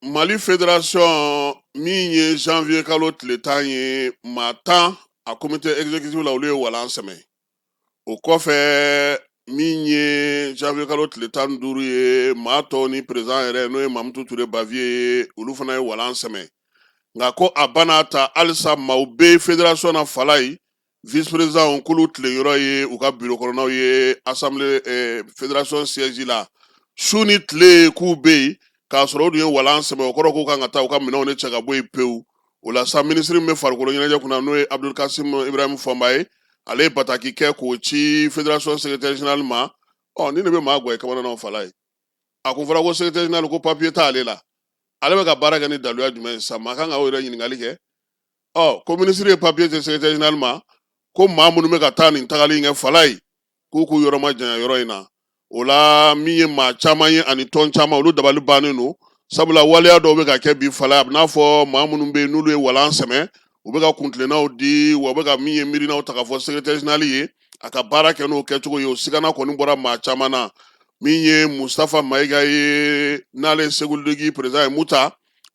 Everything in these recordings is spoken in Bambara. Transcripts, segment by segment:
mali federasɔn min ye janvier kalo tile tan ye maa tan a komite exécutif la olu ye walan sɛmɛ o kɔfɛ min ye janvier kalo tile tan ni duuru ye maa tɔw ni perezidan yɛrɛ n'o ye mamutu ture baviye ye olu fana ye walan sɛmɛ nka ko a bɛɛ n'a ta halisa maaw bɛ federasɔn na falaye vice président k'olu tile yɔrɔ ye u ka birokɔnɔnaw ye assemblée federasɔn siège la su ni tile k'u bɛ yen k'a sɔrɔ u dun ye walan sɛmɛ o kɔrɔ k'u kan ka taa u ka minɛnw de cɛ ka bɔ yen pewu o la sa minisiri min bɛ farikolo ɲɛnajɛ kunna n'o ye abdul kasim ibrahim fɔmba ye ale ye bataki kɛ k'o ci federasɔn secrétaire général ma ɔ nin de bɛ maa kamanagan falaye a kun fɔra ko secrétaire général ko papiye t'ale la ale bɛ ka baara kɛ ni daluya jumɛn ye sa maa kan ka o yɛrɛ ɲininkali kɛ ɔ ko minisiri ye papiye ci secrétaire général ma ko maa minnu bɛ ka taa nin tagali in kɛ falaye k'u k'u yɔrɔ ma janya yɔrɔ in na o la min ye maa caman ye ani tɔn caman olu dabali bannen don sabula waleya dɔw bɛ ka kɛ bi falaye a bɛ n'a fɔ maa minnu bɛ yen n'olu ye walan sɛmɛ u bɛ ka kuntilennaw di wa u bɛ ka min ye miirinaw ta k'a fɔ secrétaire général ye a ka baara kɛ n'o kɛcogo ye o sigana kɔni bɔra maa caman na min ye mustafa mayiga ye n'ale segu ligi perezidan ye muta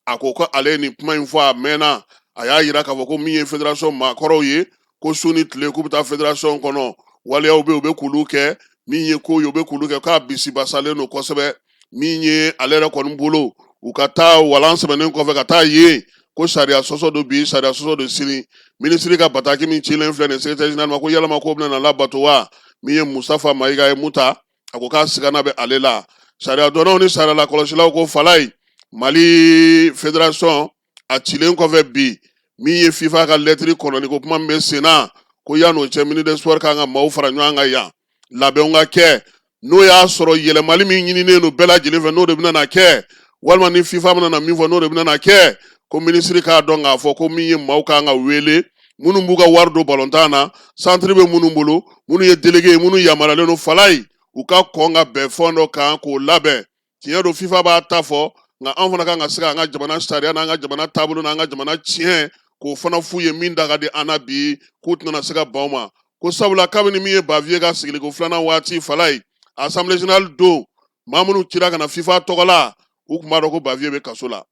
a ko ko ale nin kuma in fɔ a mɛnna a y'a yira k'a fɔ ko min ye federasɔn maakɔrɔw ye ko su ni tile k'u bɛ taa federasɔn kɔnɔ waleyaw bɛ u bɛ k'olu kɛ min ye ko ye u bɛ k'olu kɛ k'a bisibasalen don kosɛbɛ min ye ale yɛrɛ kɔni bolo u ka taa walan sɛmɛnen kɔfɛ ka taa yen ko sariya sɔsɔ don bi sariya sɔsɔ don sini minisiri ka bataki min cilen filɛ nin ye secrétaire général ma ko yalama ko bɛna labato wa min ye mustafa mayiga ye muta a ko k'a sigana bɛ ale la sariya dɔnnaw ni sariya lakɔlɔsilaw ko falaye mali federasɔn a cilen kɔfɛ bi min ye fifa ka lɛtiri kɔnɔni ko kuma min bɛ sen na ko yan'o cɛ ministre des sports kan ka maaw fara ɲɔgɔn kan yan labɛnw ka kɛ n'o y'a sɔrɔ yɛlɛmali min ɲininen don bɛɛ lajɛlen fɛ n'o de bɛna na kɛ walima ni fifa bɛna na min fɔ n'o de bɛna na kɛ ko minisiri k'a dɔn k'a fɔ ko min ye maaw kan ka wele minnu b'u ka wari don balontan na santiri bɛ minnu bolo minnu ye delege ye minnu yamaruyalen don falaye u ka kɔn ka bɛn fɛn dɔ kan k'o labɛn tiɲɛ don fifa b'a ta fɔ nka an fana kan ka se ka an ka jamana sariya n'an ka jamana taabolo n'an ka jamana tiɲɛ k'o fana f'u ye min da ka di an na bi k'u tɛna se ka ban o ma ko sabula kabini min ye baviye ka sigiliko filanan waati falaye assemblée générale don maa minnu cira ka na fifa tɔgɔ la u tun b'a dɔn ko baviye bɛ kaso la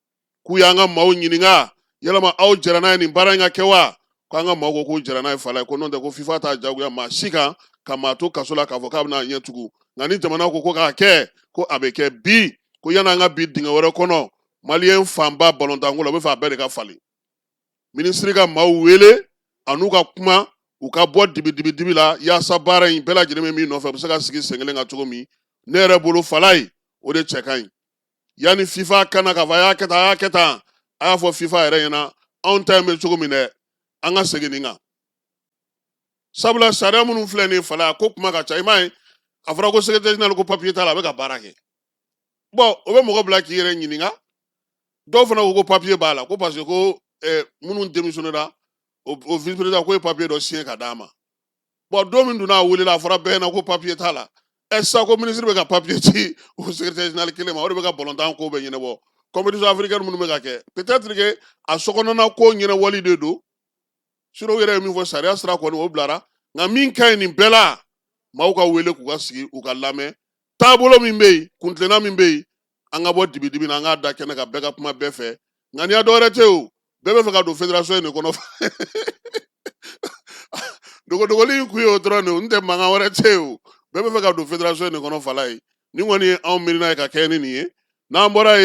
k'u y'an ka maaw ɲininka yalama aw jɛra n'a ye nin baara in ka kɛ wa ko an ka maaw ko k'u jɛra n'a ye falaye ko n'o tɛ ko fifa t'a jagoya maa si kan ka maa to kaso la k'a fɔ k'a bɛna ɲɛ tugu nka ni jamana ko ko k'a kɛ ko a bɛ kɛ bi ko yanni an ka bin dingɛ wɛrɛ kɔnɔ maliyɛn fanba balontanko la u b'a fɛ a bɛɛ de ka falen minisiri ka maaw wele a n'u ka kuma u ka bɔ dibidibidibi la yaasa baara in bɛɛ lajɛlen bɛ min nɔfɛ u bɛ se ka sigi sen kelen kan cogo min ne yɛrɛ bolo falaye o de cɛ ka ɲi yanni fifa kana ka fɔ a y'a kɛ tan a y'a kɛ tan a y'a fɔ fifa yɛrɛ ɲɛna anw ta in bɛ cogo min dɛ an ka segin nin kan sabula sariya minnu filɛ nin falaye a ko kuma ka ca i m'a ye a fɔra ko secrétaire général ko papier t'a la a bɛ ka baara kɛ bɔn o bɛ mɔgɔ bila k'i yɛrɛ ɲininka dɔw fana ko ko papiye b'a la ko parce que ko eh, minnu démissionnera o vice président ko ye papiye dɔ siɲɛ ka d'a ma bɔn don min donna a welela a fɔra bɛɛ ɲɛna ko papiye t'a la ɛ sisan ko minisiri bɛ ka papiye ci o sekirɛtɛri jenerali kelen ma o de bɛ ka balontan ko bɛɛ ɲɛnabɔ kɔnpetisiɔn afirikɛni minnu bɛ ka kɛ petɛtiri ke a sokɔnɔna ko ɲɛnabɔli de don sinɔn u yɛrɛ ye min fɔ sariya sira kɔni o bilara nka min ka ɲi nin bɛɛ la maaw ka wele k'u ka sigi u ka lamɛn taabolo min bɛ yen kuntilenna min bɛ yen an ka bɔ dibidibi na an k'a da kɛnɛ kan bɛɛ ka kuma bɛɛ fɛ nka n'i y'a dɔwɛrɛ tɛ o bɛɛ bɛ fɛ ka don federasiɔn in de kɔnɔ dogodogoli in kun ye o dɔrɔn de n'o tɛ mankan wɛrɛ tɛ yen o bɛɛ bɛ fɛ ka don federasiɔn in de kɔnɔ falaye nin kɔni ye anw miirina ye ka kɛ ni nin ye n'an bɔra yen